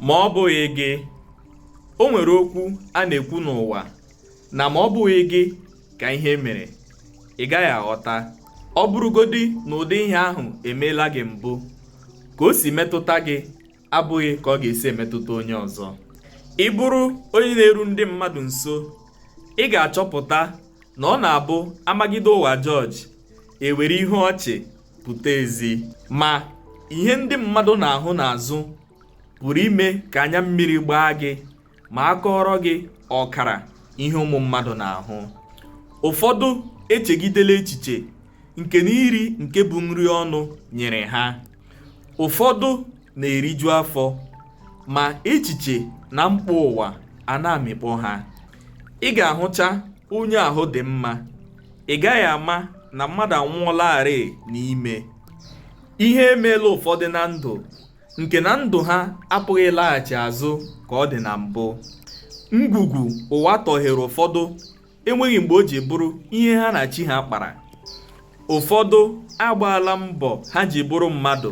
ma ọ bụghị gị o nwere okwu a na-ekwu n'ụwa na ma ọ bụghị gị ka ihe mere ị gaghị aghọta ọ bụrụgodi na ụdị ihe ahụ emeela gị mbụ ka o si metụta gị abụghị ka ọ ga-esi emetụta onye ọzọ ị bụrụ onye na-eru ndị mmadụ nso ị ga-achọpụta na ọ na-abụ a magide ụwa jọọjị e were ihu ọchị pụta ezi ma ihe ndị mmadụ na-ahụ n'azụ pụrụ ime ka anya mmiri gbaa gị ma a kọọrọ gị ọkara ihe ụmụ mmadụ na-ahụ ụfọdụ echegidela echiche nke na iri nke bụ nri ọnụ nyere ha ụfọdụ na-eriju afọ ma echiche na mkpa ụwa a na-amịkpọ ha ị ga-ahụcha onye ahụ dị mma ị gaghị ama na mmadụ anwụọlarị n'ime ihe emeela ụfọdụ na ndụ nke na ndụ ha apụghị ịlaghachi azụ ka ọ dị na mbụ ngwugwu ụwa tọghere ụfọdụ enweghị mgbe o ji bụrụ ihe ha na chi ha kpara ụfọdụ agbaala mbọ ha ji bụrụ mmadụ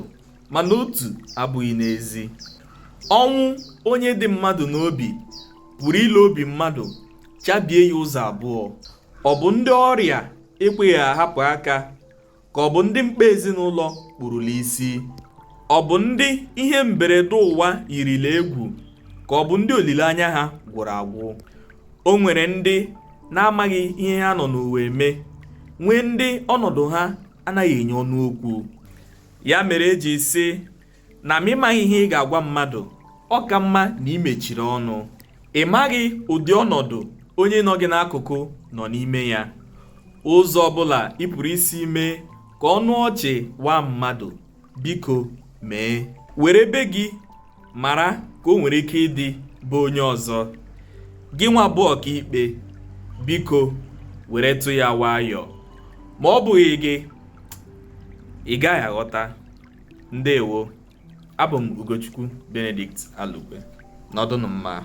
mana otu abụghị n'ezi ọnwụ onye dị mmadụ n'obi pụrụ ile obi mmadụ chabie ya ụzọ abụọ ọ bụ ndị ọrịa ekweghị ahapụ aka ka ọ bụ ndị mkpa ezinụlọ kpurula isi ọ bụ ndị ihe mberede ụwa yirila egwu ka ọ bụ ndị olileanya ha gwụrụ agwụ o nwere ndị na-amaghị ihe ha nọ n'ụwa eme nwee ndị ọnọdụ ha anaghị enye ọnụ okwu ya mere e ji sị na ma ị maghị ihe ị ga-agwa mmadụ ọ ka mma na i mechiri ọnụ ị maghị ụdị ọnọdụ onye nọ gị n'akụkụ nọ n'ime ya ụzọ ọbụla ị pụrụ isi mee ka ọnụ ọchị waa mmadụ biko mee were be gị mara ka o nwere ike ịdị be onye ọzọ gị nwa bụ ọkaikpe biko weretụ ya nwayọọ ma ọ bụghị gị ị gaghị aghọta ndewo abụ m ugochukwu benedict alugbe nọdụnụ mma